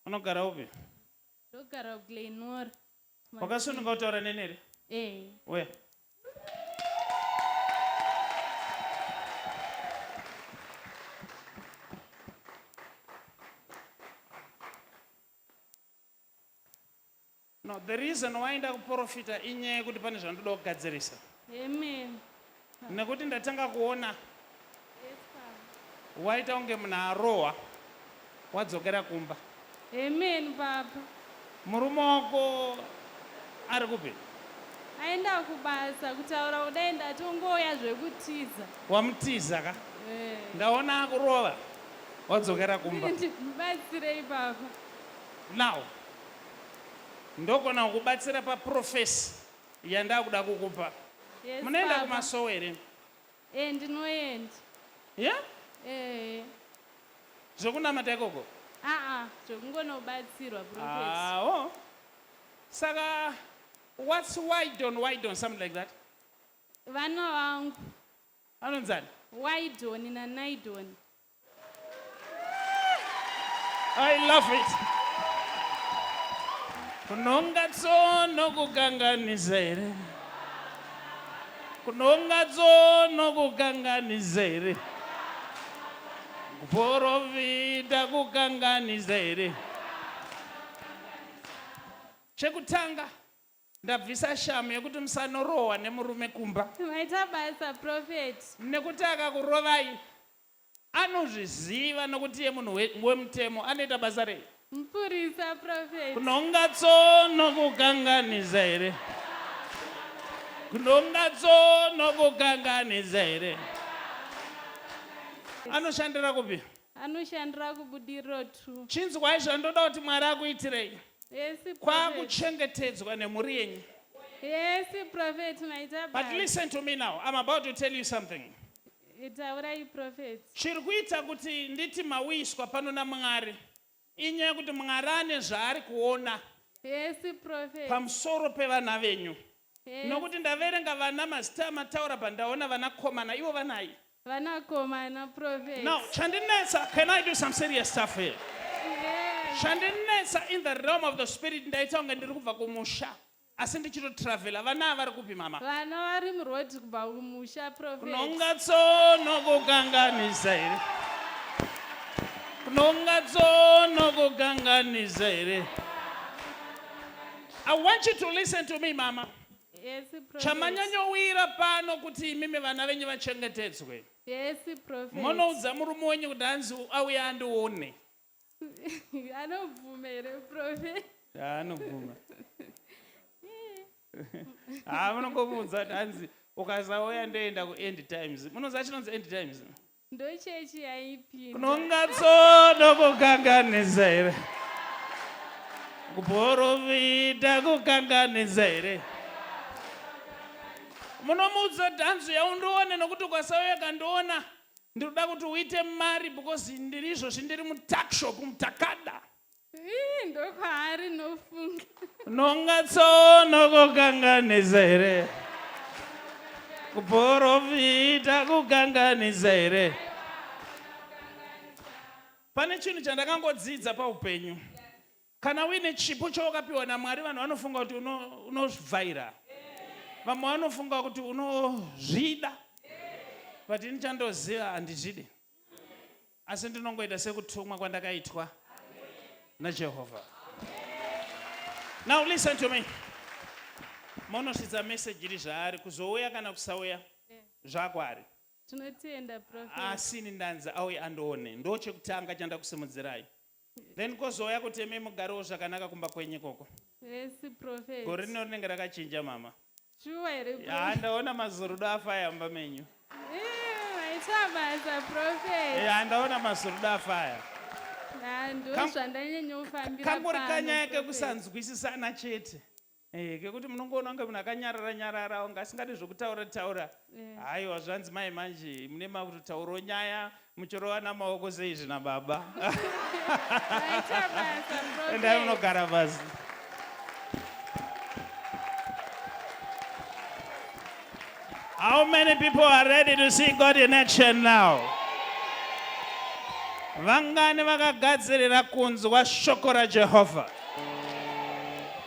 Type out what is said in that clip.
unogara upi ndogara glenor wakasununga kutaura neni here ee uya No, the reason why ndakuprofita inyaya yekuti pane zvandoda kugadzirisa. Amen. Nekuti ndatanga kuona Yes, Papa. waita kunge munhu arohwa wadzokera kumba. Amen, Papa. Murume wako ari kupi? Aenda kubasa kutaura kudai ndatongouya zvekutiza. Wamutiza ka? Eh. Ndaona akurova wadzokera kumba. Ndibatsirei, Papa. now ndogona kukubatsira paprofesi yandakuda kukupa yes, munoenda kumasowo here e ndinoenda ye yeah? e eh. zvekunamata ikoko aa zvekungonobatsirwa awo saka whats widon widon something like that vana vangu vanonzani widon nanaidoni I love it. Kunonga tsono kukanganisa here? Kunonga tsono kukanganisa here? Kuporofita kukanganisa here? Chekutanga Ndabvisa shamu yekuti musanorohwa nemurume kumba. Maita basa prophet. Nekuti akakurovai anozviziva nokuti iye munhu we- wemutemo anoita basa rei? Mupurisa prophet. Kunonga tsono kukanganisa here? Kunonga tsono kukanganisa here? Anoshandira kupi? Anoshandira kubudiriro tu. Chinzwai zvandoda kuti Mwari akuitirei. Yes, prophet. Kwakuchengetedzwa nemhuri yenyu. Yes, prophet, maita But basa. listen to me now. I'm about to tell you something. Taurai prophet. Chiri kuita kuti nditi mauyiswa pano naMwari. Inyaya kuti Mwari ane zvaari kuona. Yes, prophet. Pamusoro pevana venyu. Yes. Nokuti ndaverenga vana mazita amataura pandaona vana komana ivo vanai. Vana komana prophet. Now, chandinetsa, can I do some serious stuff here? Yes. Chandinetsa in the realm of the spirit ndaita kunge ndiri kubva kumusha. asi ndichito travela vana vari kupi mama vana vari muroad kubva kumusha kunonga tsono kukanganisa here kunonga tsono kukanganisa here i want you to listen to me mama yes, chamanyanyowira pano kuti imimi vana venyu vachengetedzwe yes, munoudza murume wenyu kuti hanzi auya andione anobvuma here prophet ah, anobvuma haa ah, munongomuudza kuti hanzi ukasauya ndoenda kuend times munoziva chinonzi end times ndochechi yaipi kunongatsoda kukanganisa here kuporofita kukanganisa here munomuudza kuti hanzi yaundione nokuti ukasauya kandiona ndiri kuda kuti uite mari because ndiri izvozvi ndiri mutakshop mutakada ndokwaari nofunga nongatsoona kukanganisa here kuporofita kukanganisa here pane chinhu chandakangodzidza paupenyu Kana uine chipo chawakapiwa naMwari vanhu vanofunga kuti unovhaira uno vamwe vanofunga kuti unozvida but ini chandoziva handizvidi asi ndinongoita sekutumwa kwandakaitwa najehovha now listen to me monosvitsa meseji iri zvaari kuzouya kana kusauya zvakwari asi ini ndanzi auye andoone ndo chekutanga chandakusimudzirai Then kozouya kuti imi mugarewo zvakanaka kumba kwenyu ikoko. Yes, prophet. Gore rino rinenge rakachinja mama. Shuwa here prophet? Haa ndaona mazorudo afaya mumba menyu. Eh, maita basa prophet. Haa ndaona mazorudo afaya. Haa ndozvandanyanya kufambira pano. Kangori kanyaya kekusanzwisisana chete. Eh, kekuti munongoona kunge munhu akanyarara nyarara unge asingadi zvokutaura taura eh. haiwa zvanzi mai manje mune makutotaurawo nyaya muchirovana maoko seizvi nababa endai munogara pasi How many people are ready to see God in action now? Vangani vakagadzirira kunzwa shoko raJehovha.